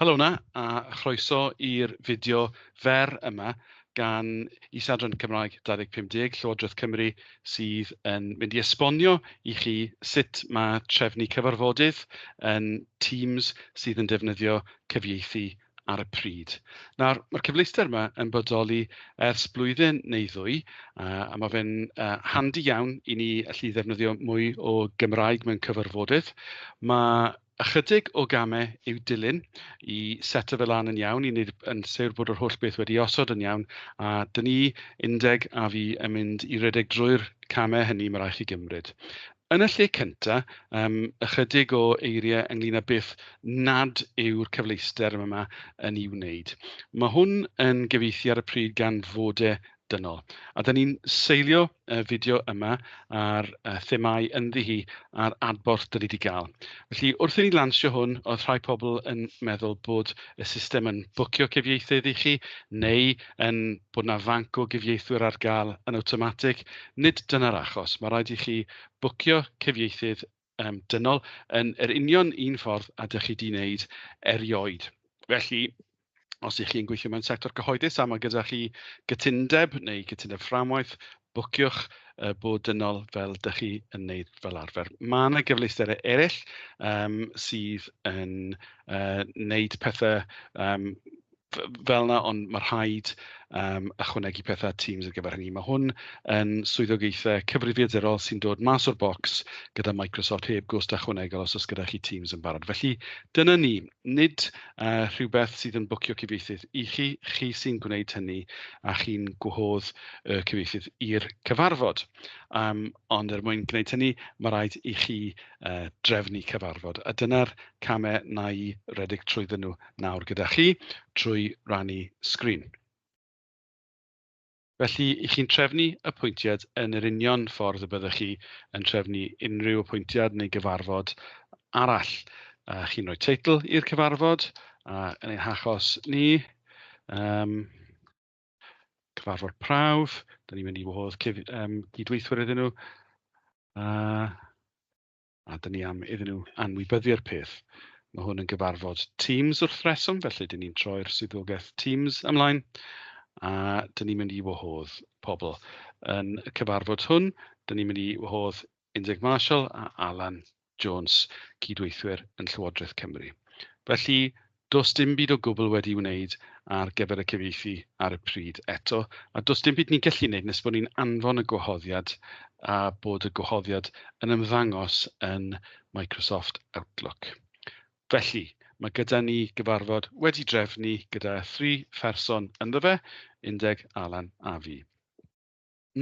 Helo yna, a chroeso i'r fideo fer yma gan Is-adran Cymraeg 2050 Llywodraeth Cymru sydd yn mynd i esbonio i chi sut mae trefnu cyfarfodydd yn Teams sydd yn defnyddio cyfieithu ar y pryd. Nawr, mae'r cyfleuster yma yn bodoli ers blwyddyn neu ddwy, uh, a mae fe'n uh, handi iawn i ni allu ddefnyddio mwy o Gymraeg mewn cyfarfodydd. Mae ychydig o gamau i'w dilyn i set o fel lan yn iawn, i wneud yn sewr bod yr holl beth wedi osod yn iawn, a dyn ni, undeg a fi, yn mynd i redeg drwy'r camau hynny mae rhaid chi gymryd. Yn y lle cyntaf, yym, ychydig o eiriau ynglyn â beth nad yw'r cyfleuster yma yn ei wneud. Mae hwn yn gyfieithu ar y pryd gan fod e dynol. A da ni'n seilio y fideo yma ar y themau ynddi hi a'r adborth dyn ni wedi gael. Felly, wrth i ni lansio hwn, oedd rhai pobl yn meddwl bod y system yn bwcio cyfieithydd i chi, neu ein bod 'na fanc o gyfieithwyr ar gael yn awtomatig. Nid dyna'r achos. Mae'n rhaid i chi fwcio cyfieithydd yym dynol yn yr union un ffordd â dach chi 'di wneud erioed. Felly, os ych chi'n gweithio mewn sector cyhoeddus a mae gyda chi gytundeb neu gytundeb fframwaith, bwciwch yy bod dynol fel dach chi yn wneud fel arfer. Mae 'na gyfleusterau eraill yym sydd yn yy wneud pethe yym... fel 'na, ond ma' rhaid yym ychwanegu petha at Teams ar gyfer hynny. Ma' hwn yn swyddogaethau cyfrifiadurol sy'n dod mas o'r bocs gyda Microsoft heb gost ychwanegol os oes gyda chi Teams yn barod. Felly dyna ni. Nid yy rhywbeth sydd yn bwcio cyfieithydd i chi, chi sy'n gwneud hynny a chi'n gwahodd y cyfieithydd i'r cyfarfod. Um, ond er mwyn gwneud hynny, mae rhaid i chi uh, drefnu cyfarfod. A dyna'r camau na i redeg trwyddyn nhw nawr gyda chi trwy rannu sgrin. Felly, 'y chi'n trefnu apwyntiad yn yr union ffordd y byddwch chi yn trefnu unrhyw apwyntiad neu gyfarfod arall. Uh, chi'n rhoi teitl i'r cyfarfod, a uh, yn ein hachos ni, um, cyfarfod prawf, da ni'n mynd i wahodd um, gydweithwyr iddyn nhw. Uh, a dyn ni am iddyn nhw anwybyddu'r peth. Mae hwn yn gyfarfod Teams wrth reswm, felly dyn ni'n troi'r swyddogaeth Teams ymlaen, a dyn ni'n mynd i wahodd pobl. Yn y cyfarfod hwn, dyn ni'n mynd i wahodd Indrek Marshall a Alan Jones, cydweithwyr yn Llywodraeth Cymru. Felly, Does dim byd o gwbl wedi'i wneud ar gyfer y cyfieithu ar y pryd eto, a does dim byd ni'n gallu wneud nes bod ni'n anfon y gwahoddiad a bod y gwahoddiad yn ymddangos yn Microsoft Outlook. Felly, mae gyda ni gyfarfod wedi drefnu gyda thri pherson ynddo fe, Undeg, Alan a fi.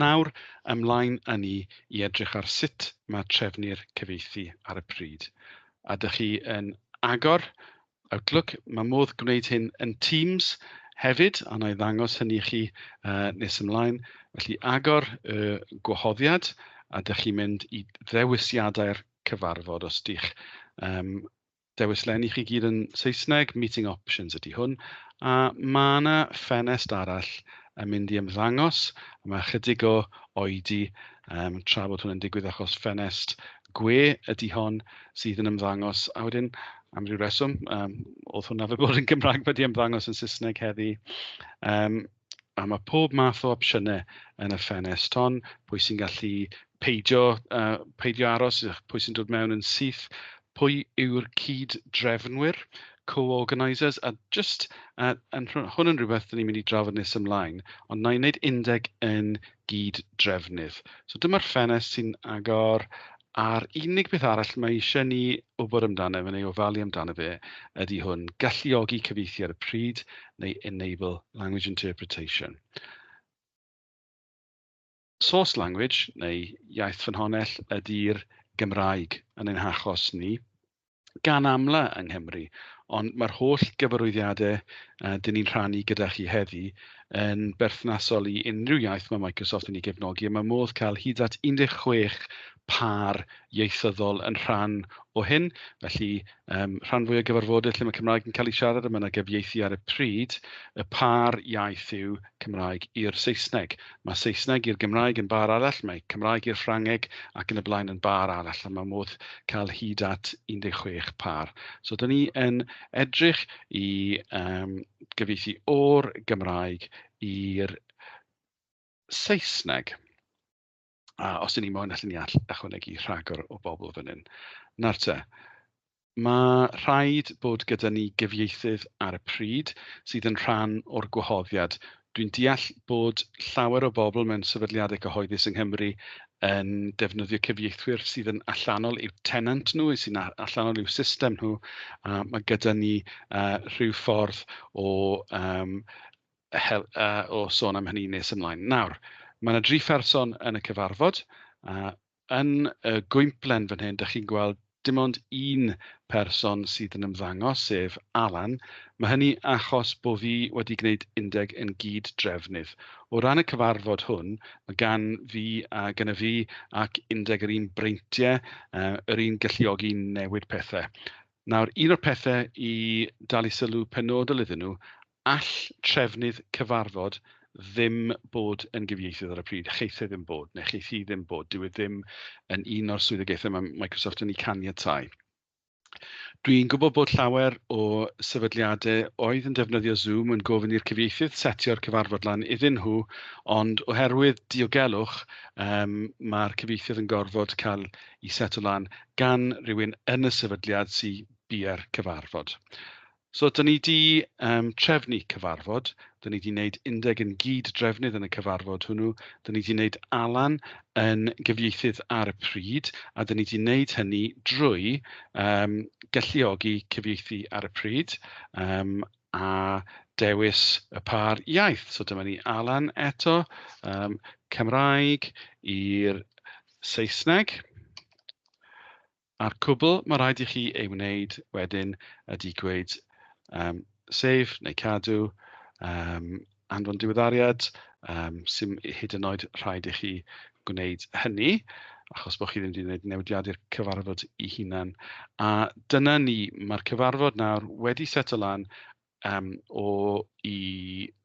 Nawr, ymlaen â ni i edrych ar sut mae trefnu'r cyfieithu ar y pryd. A dych chi yn agor Outlook, mae modd gwneud hyn yn Teams hefyd, a wna i ddangos hynny i chi uh, nes ymlaen. Felly agor y gwahoddiad a dych chi'n mynd i ddewisiadau'r cyfarfod os ydych um, Dewis len i chi gyd yn Saesneg, meeting options ydy hwn. A mae yna ffenest arall yn mynd i ymddangos. Mae chydig o oedi um, tra bod hwn yn digwydd achos ffenest gwe ydy hon sydd yn ymddangos. A wedyn, am ryw reswm, um, oedd hwnna fe bod yn Gymraeg wedi ymddangos yn Saesneg heddi. Um, A mae pob math o opsiynau yn y ffenest hon, pwy sy'n gallu peidio yy peidio aros, pwy sy'n dod mewn yn syth, pwy yw'r cyd-drefnwyr, co-organisers, a jyst yy yn rh- hwn yn rywbeth dan ni'n mynd i drafod nes ymlaen, ond wna i wneud undeg yn gyd-drefnydd. So dyma'r ffenest sy'n agor a'r unig beth arall mae eisiau ni wybod amdano fe neu ofalu amdano fe ydy hwn, galluogi cyfieithu ar y pryd neu enable language interpretation. Source language neu iaith ffynhonnell ydy'r Gymraeg yn ein hachos ni. gan amla yng Nghymru, ond mae'r holl gyfarwyddiadau uh, dyn ni'n rhannu gyda chi heddi yn berthnasol i unrhyw iaith mae Microsoft yn ei gefnogi, a mae modd cael hyd at 16 par ieithyddol yn rhan o hyn. Felly, um, rhan fwy o gyfarfodydd lle mae Cymraeg yn cael ei siarad a mae yna gyfieithu ar y pryd, y par iaith yw Cymraeg i'r Saesneg. Mae Saesneg i'r Gymraeg yn bar arall, mae Cymraeg i'r Ffrangeg ac yn y blaen yn bar arall, a mae modd cael hyd at 16 par. So, dyn ni yn edrych i um, gyfeithi o'r Gymraeg i'r Saesneg. A os 'y ni moyn allen ni all- ychwanegu rhagor o bobl fan hyn. Nawr te, ma' rhaid bod gyda ni gyfieithydd ar y pryd sydd yn rhan o'r gwahoddiad. Dwi'n deall bod llawer o bobl mewn sefydliadau cyhoeddus yng Nghymru yn defnyddio cyfieithwyr sydd yn allanol i'w tenant nhw, sy'n a- allanol i'w system nhw, a ma' gyda ni yy rhyw ffordd o yym hel- a, o sôn am hynny nes ymlaen. Nawr, mae yna dri pherson yn y cyfarfod. A, yn y gwymplen fan hyn, dach chi'n gweld dim ond un person sydd yn ymddangos, sef Alan. Mae hynny achos bod fi wedi gwneud undeg yn gyd drefnydd. O ran y cyfarfod hwn, mae gan fi a gan y fi ac undeg yr un breintiau, uh, yr un galluogi newid pethau. Nawr, un o'r pethau i dalu sylw penodol iddyn nhw All trefnydd cyfarfod ddim bod yn gyfieithydd ar y pryd, cheith e ddim bod, neu cheith hi ddim bod. Dyw e ddim yn un o'r swyddogaethau mae Microsoft yn eu caniatáu. Dwi'n gwybod bod llawer o sefydliadau oedd yn defnyddio Zoom yn gofyn i'r cyfieithydd setio'r cyfarfod lan iddyn nhw, ond oherwydd diogelwch, um, mae'r cyfieithydd yn gorfod cael ei seto lan gan rhywun yn y sefydliad sy'n bua'r cyfarfod. So dan ni wedi um, trefnu cyfarfod, dan ni wedi gwneud undeg yn gyd-drefnydd yn y cyfarfod hwnnw, dan ni wedi gwneud Alan yn gyfieithydd ar y pryd, a dan ni wedi gwneud hynny drwy um, galluogi cyfieithu ar y pryd um, a dewis y par iaith. So dyma ni Alan eto, um, Cymraeg i'r Saesneg. A'r cwbl mae rhaid i chi ei wneud wedyn ydy gweud yym save neu cadw, yym anfon diweddariad, yym 'sdim hyd yn oed rhaid i chi gwneud hynny achos bod chi ddim 'di wneud newidiad i'r cyfarfod ei hunan. A dyna ni, mae'r cyfarfod nawr wedi seto lan yym o i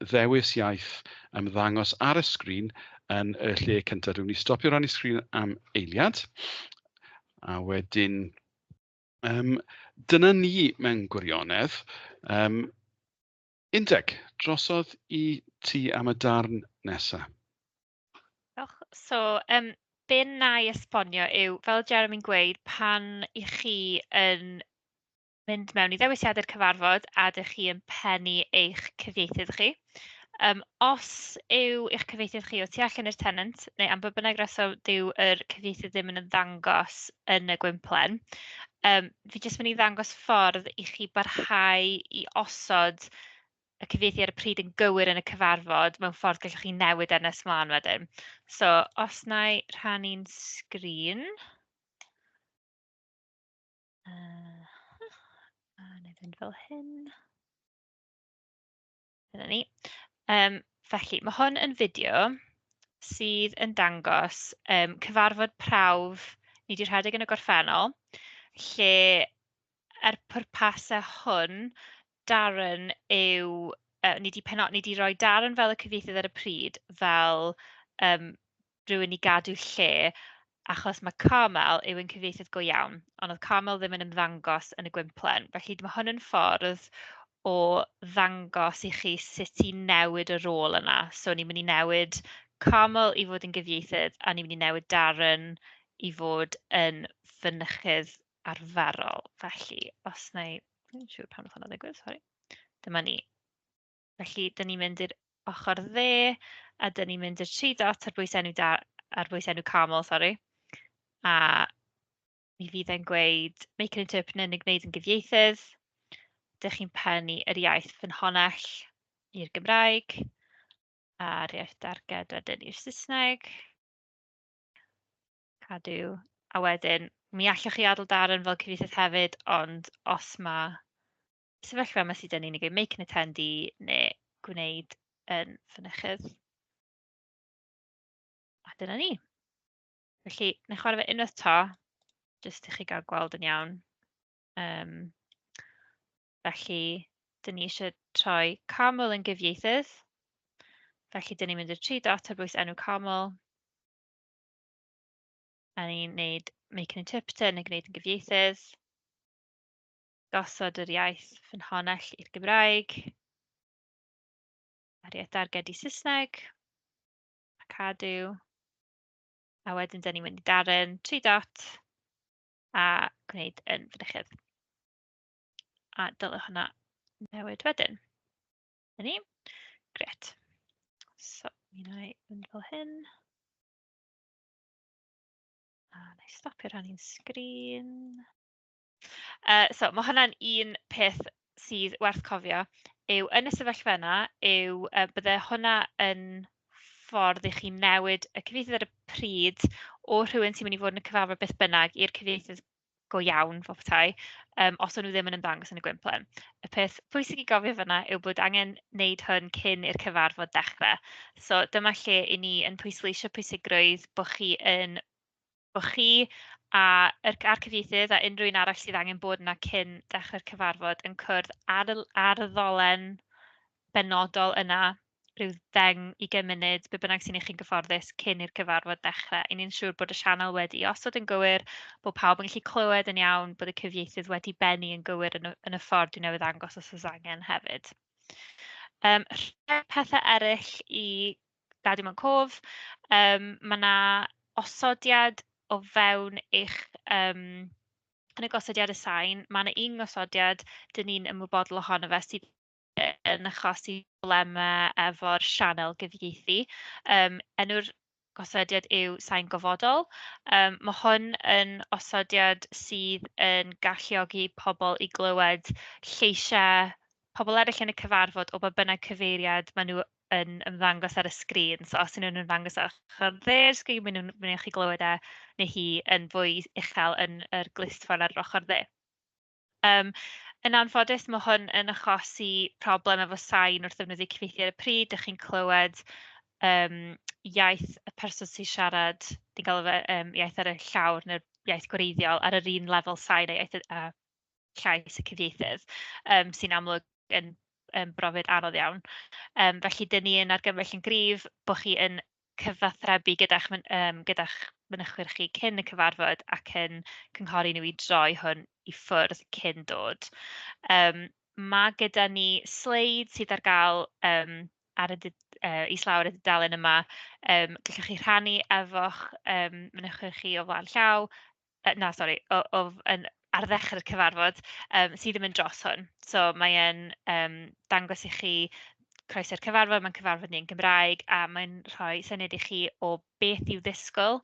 ddewis iaith ymddangos ar y sgrin yn y lle cynta. Dwi'n mynd i stopio rannu sgrin am eiliad a wedyn yym dyna ni mewn gwirionedd. Yym Undeg, drosodd i ti am y darn nesa'. Diolch. So yym be wna i esbonio yw, fel oedd Jeremy'n gweud, pan 'y chi yn... mynd mewn i ddewisiadau'r cyfarfod a dach chi yn pennu eich cyfieithydd chi. Yym os yw eich cyfieithydd chi o tu allan i'r tenant, neu am ba bynnag reswm dyw yr cyfieithydd ddim yn ymddangos yn y gwymplen, yym fi jyst mynd i ddangos ffordd i chi barhau i osod y cyfieithu ar y pryd yn gywir yn y cyfarfod mewn ffordd gallwch chi newid e nes mlaen wedyn. So os wna i rhannu'n sgrin. Uh, a wna i fynd fel hyn. Dyna ni. Um, felly, mae hwn yn fideo sydd yn dangos um, cyfarfod prawf ni wedi rhedeg yn y gorffennol, lle er pwrpasau hwn, Darren yw yy... ni 'di peno- ni 'di roi Darren fel y cyfieithydd ar y pryd, fel yym rywun i gadw lle, achos ma' Carmel yw ein cyfieithydd go iawn, ond oedd Carmel ddim yn ymddangos yn y gwymplen. Felly, ma' hwn yn ffordd o ddangos i chi sut i newid y rôl yna. So, ni'n mynd i newid Carmel i fod yn gyfieithydd, a ni'n mynd i newid Darren i fod yn fynychydd. arferol. Felly, os wna i... Dwi'm yn siŵr pam wnaeth hwnna ddigwydd, sori. Dyma ni. Felly, dan ni'n mynd i'r ochr dde, a dan ni'n mynd i'r tri dot ar bwys enw da... ar bwys enw Carmel, sori, a mi fydd e'n gweud make an interpreter neu gwneud yn gyfieithydd. Dach chi'n pennu yr iaith ffynhonnell i'r Gymraeg, a'r iaith darged wedyn i'r Saesneg. Cadw. A wedyn, mi allwch chi adael darn fel cyfeithydd hefyd, ond os ma' sefyllfa yma sy 'da ni, neu ge- make an attendee neu gwneud yn fynychydd, a dyna ni. Felly, wna i chwarae fe unwaith 'to, jyst i chi gael gweld yn iawn. Yym, felly, 'dyn ni isie troi Carmel yn gyfieithydd, felly 'dyn ni'n mynd i'r tri dot ar bwys enw Carmel. A ni'n wneud make an interpreter neu gwneud yn gyfieithydd. Gosod yr iaith ffynhonnell i'r Gymraeg. A'r iaith darged i Saesneg. A cadw. A wedyn dan ni'n mynd i darn tri dot a gwneud yn fynychydd. A dylai hwnna newid wedyn. 'Na ni. Grêt. So, mi wna i fynd fel hyn. A wna i stopio rhannu'n sgrin. Uh, so, mae hwnna'n un peth sydd werth cofio yw yn y sefyllfa yna yw uh, bydde hwnna yn ffordd i chi newid y cyfieithydd ar y pryd o rhywun sy'n mynd i fod yn y cyfarfod beth bynnag i'r cyfieithydd go iawn fel petai, yym os o'n nhw ddim yn ymddangos yn y gwymplen. Y peth pwysig i gofio fan'na yw bod angen wneud hwn cyn i'r cyfarfod dechrau, so dyma lle 'y ni yn pwysleisio pwysigrwydd bod chi yn... bod chi a yr a'r cyfieithydd a unrhyw un arall sydd angen bod 'na cyn dechrau'r cyfarfod yn cwrdd ar y ar y ddolen benodol yna, ryw ddeng, ugain munud, be bynnag sy'n i chi'n gyfforddus cyn i'r cyfarfod ddechrau. I ni'n siŵr bod y sianel wedi osod yn gywir, bod pawb yn gallu clywed yn iawn, bod y cyfieithydd wedi bennu yn gywir yn y yn y ffordd dwi'n newydd ddangos os oes angen hefyd. Yym rhai pethe eryll i gadw mewn cof, yym ma' 'na osodiad o fewn eich yym... yn y gosodiadau sain, ma' 'na un gosodiad dan ni'n ymwybodol ohono fe sydd... yn achosi problemau efo'r sianel gyfieithu. Yym, enw'r gosodiad yw Sain Gofodol. Yym, ma' hwn yn osodiad sydd yn galluogi pobl i glywed lleisiau pobl eraill yn y cyfarfod o ba bynnag cyfeiriad maen nhw yn ymddangos ar y sgrîn. So os 'y nhw'n ymddangos ar ochr dde'r sgrîn, maen nhw'n maen nhw'n gallu glywed e neu hi yn fwy uchel yn yr glustffordd ar yr ochr dde. Yym yn anffodus ma' hwn yn achosi problem efo sain wrth ddefnyddio cyfieithu ar y pryd, dach chi'n clywed yym iaith y person sy'n siarad, ni'n galw fe yym iaith ar y llawr neu'r iaith gwreiddiol ar yr un lefel sain a iaith y a llais y cyfieithydd, yym sy'n amlwg yn yn brofiad anodd iawn. Yym felly, 'dyn ni yn argymell yn gryf bo' chi yn... cyfathrebu gyda'ch m- yym gyda'ch mynychwyr chi cyn y cyfarfod ac yn cynghori nhw i droi hwn i ffwrdd cyn dod. Yym ma' gyda ni sleid sydd ar gael yym ar y du- yy islaw ar y dudalen yma, yym gallwch chi rhannu efo'ch yym mynychwyr chi o flaen llaw. yy na sori o o yn ar ddechrau'r cyfarfod yym sydd yn mynd dros hwn, so mae e'n yym dangos i chi croeso i'r cyfarfod, mae'n cyfarfod ni yn Gymraeg, a mae'n rhoi syniad i chi o beth i'w ddisgwyl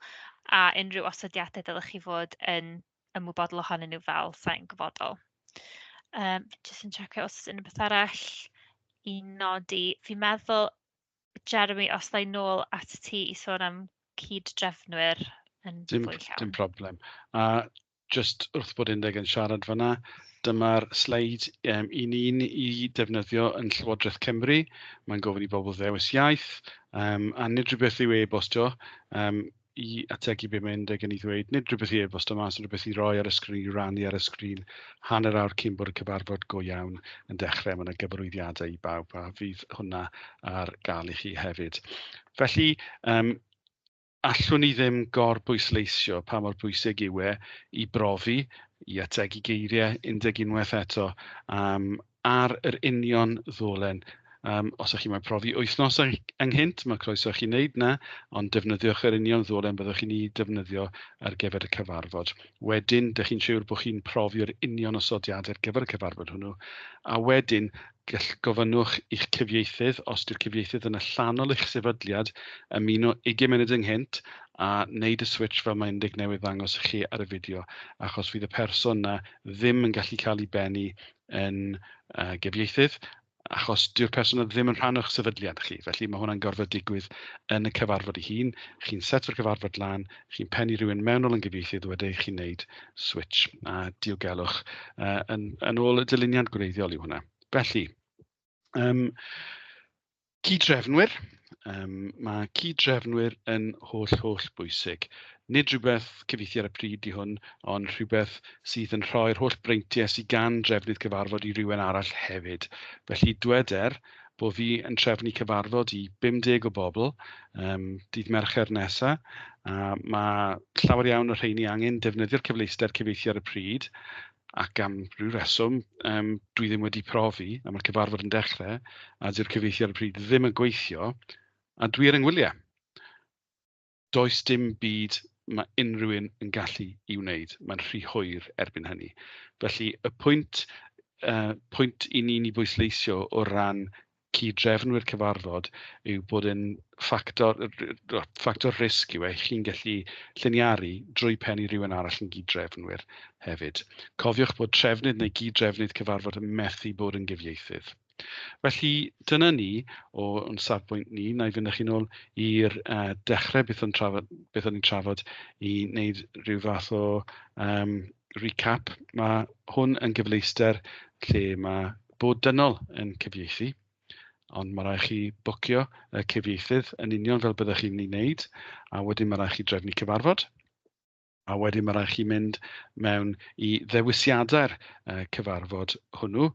a unrhyw osodiadau dylech chi fod yn ymwybodol ohonyn nhw fel sain gofodol. Yym jyst yn checio os oes unrhyw beth arall i nodi, fi'n meddwl... Jeremy, os dda i nôl atat ti i sôn am cyd-drefnwyr yn fwy llawn... Dim dim problem. A jyst wrth bod Indeg yn siarad fan'na, dyma'r sleid yym 'y ni'n ei ddefnyddio yn Llywodraeth Cymru. Mae'n gofyn i bobl ddewis iaith, yym a nid rhywbeth i'w e-bostio yym... i ategu be mae Indeg yn ei ddweud, nid rhywbeth i e-bost yma, ond rhywbeth i roi ar y sgrin, i rannu ar y sgrin, hanner awr cyn bod y cyfarfod go iawn yn dechrau. Mae yna gyfarwyddiadau i bawb a fydd hwnna ar gael i chi hefyd. Felly, um, allwn ni ddim gor bwysleisio pa mor bwysig yw e i brofi, i ategu geiriau, undeg unwaith eto, um, ar yr union ddolen. Um, os ydych chi moyn profi wythnos ynghynt, mae croeso chi wneud na, ond defnyddiwch yr union ddolen byddwch chi'n ei defnyddio ar gyfer y cyfarfod. Wedyn, dych chi'n siŵr bod chi'n profio'r union osodiadau ar gyfer y cyfarfod hwnnw, a wedyn gall gofynnwch i'ch cyfieithydd, os yw'r cyfieithydd yn allanol eich sefydliad, ymuno 20 munud ynghynt a wneud y switch fel mae Indig newydd ddangos i chi ar y fideo, achos fydd y person yna ddim yn gallu cael ei bennu yn yy gyfieithydd, achos dyw'r person yna ddim yn rhan o'ch sefydliad chi, felly ma' hwnna'n gorfod digwydd yn y cyfarfod ei hun. Chi'n setio'r cyfarfod lan, chi'n pennu rhywun mewnol yn gyfieithydd wedyn chi'n wneud switch a diogelwch yy yn yn ôl y dyluniad gwreiddiol yw hwnna. Felly... Yym cyd-drefnwyr. Yym ma' cyd-drefnwyr yn holl, holl bwysig. Nid rhywbeth cyfieithu ar y pryd 'di hwn, ond rhywbeth sydd yn rhoi'r holl breintiau sy gan drefnydd cyfarfod i rywun arall hefyd. Felly dwed er bo' fi yn trefnu cyfarfod i 50 o bobl um, dydd Mercher nesa, a mae llawer iawn o rheini angen defnyddio'r cyfleuster cyfieithu ar y pryd, ac am ryw reswm yym dwi ddim wedi profi, a ma'r cyfarfod yn dechrau, a 'di'r cyfieithu ar y pryd ddim yn gweithio, a dwi ar 'y ngwyliau. Does dim byd ma' unrhyw un yn gallu ei wneud, mae'n rhy hwyr erbyn hynny. Felly y pwynt yy pwynt 'y ni'n ei bwysleisio o ran cyd-drefnwyr cyfarfod yw bod e'n ffactor, ffactor risg yw e, chi'n gallu lliniaru drwy pen i rhywun arall yn gyd-drefnwyr hefyd. Cofiwch bod trefnydd neu gyd-drefnydd cyfarfod yn methu bod yn gyfieithydd. Felly, dyna ni o o'n safbwynt ni. Na i fynd â chi'n ôl i'r uh, dechrau beth o'n, trafod, beth o'n i'n trafod i wneud rhyw fath o um, recap. Mae hwn yn gyfleuster lle mae bod dynol yn cyfieithu, ond mae rhaid chi bwcio y cyfieithydd yn union fel byddwch chi'n ei wneud, a wedyn mae rhaid chi drefnu cyfarfod, a wedyn mae rhaid chi mynd mewn i ddewisiadau'r uh, cyfarfod hwnnw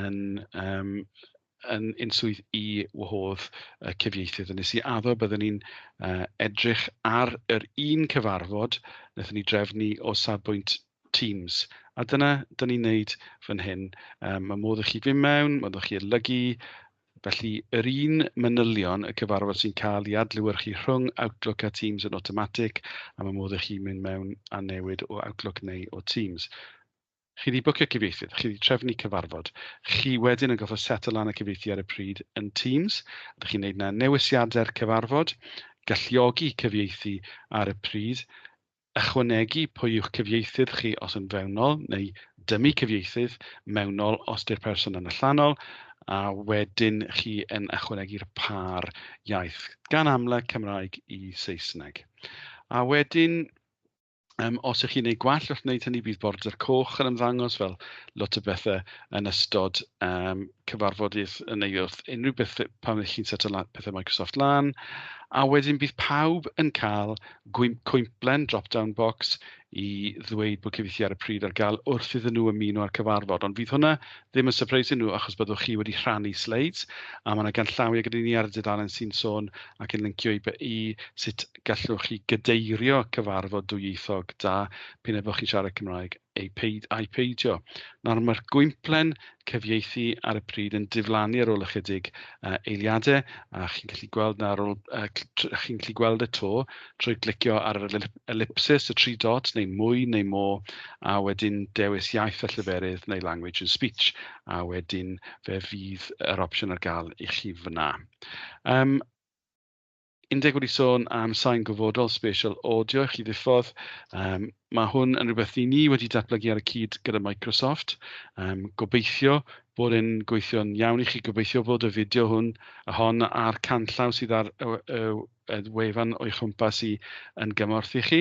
yn, um, yn unswydd i wahodd y cyfieithydd. Yn nes i addo byddwn ni'n uh, edrych ar yr un cyfarfod, wnaethon ni drefnu o safbwynt Teams. A dyna dan ni'n wneud fan hyn. Yym mae modd i chi fynd mewn, modd i chi adolygu. Felly yr un manylion y cyfarfod sy'n cael ei adlewyrchu rhwng Outlook a Teams yn awtomatig a mae modd i chi mynd mewn a newid o Outlook neu o Teams. Chi wedi bwcio cyfieithydd, chi wedi trefnu cyfarfod. Chi wedyn yn gorfod set lan y cyfieithu ar y pryd yn Teams. Ydych chi'n gwneud na newisiadau'r cyfarfod, galluogi cyfieithu ar y pryd. Ychwanegu pwy yw'ch cyfieithydd chi os yn fewnol, neu dymu cyfieithydd mewnol os di'r person yn allanol, a wedyn chi yn ychwanegu'r pâr iaith, gan amla Cymraeg i Saesneg. A wedyn Um, os ych chi'n ei gwell wrth wneud hynny, bydd border coch yn ymddangos fel lot o bethau yn ystod um, cyfarfodydd yn ei wrth unrhyw beth pan ydych chi'n seto lan pethau Microsoft lan. A wedyn bydd pawb yn cael cwymplen drop-down box i ddweud bod cyfieithu ar y pryd ar gael wrth iddyn nhw ymuno â'r cyfarfod. Ond fydd hwnna ddim yn surprise nhw achos byddwch chi wedi rhannu sleids a mae yna ganllawiau gyda ni ar y dudalen sy'n sôn ac yn lincio i, i sut gallwch chi gydeirio cyfarfod dwyieithog da pyn ebo chi'n siarad Cymraeg Ai peid- ai peidio. Nawr, mae'r gwymplen cyfieithu ar y pryd yn diflannu ar ôl ychydig uh, eiliadau, a chi'n gallu gweld na ar ôl, uh, chi'n gallu gweld y to trwy glicio ar yr ellipsis, y tri dot, neu mwy neu mo, a wedyn dewis iaith a llyferydd neu language and speech, a wedyn fe fydd yr opsiwn ar gael i chi fyna. Um, Indeg wedi sôn am sain gofodol spatial audio i chi ddiffodd. Um, mae hwn yn rhywbeth i ni wedi datblygu ar y cyd gyda Microsoft. Um, gobeithio bod e'n gweithio'n iawn i chi. Gobeithio bod y fideo hwn a hon a'r canllaw sydd ar y, y, y wefan o'i chwmpas i yn gymorth i chi.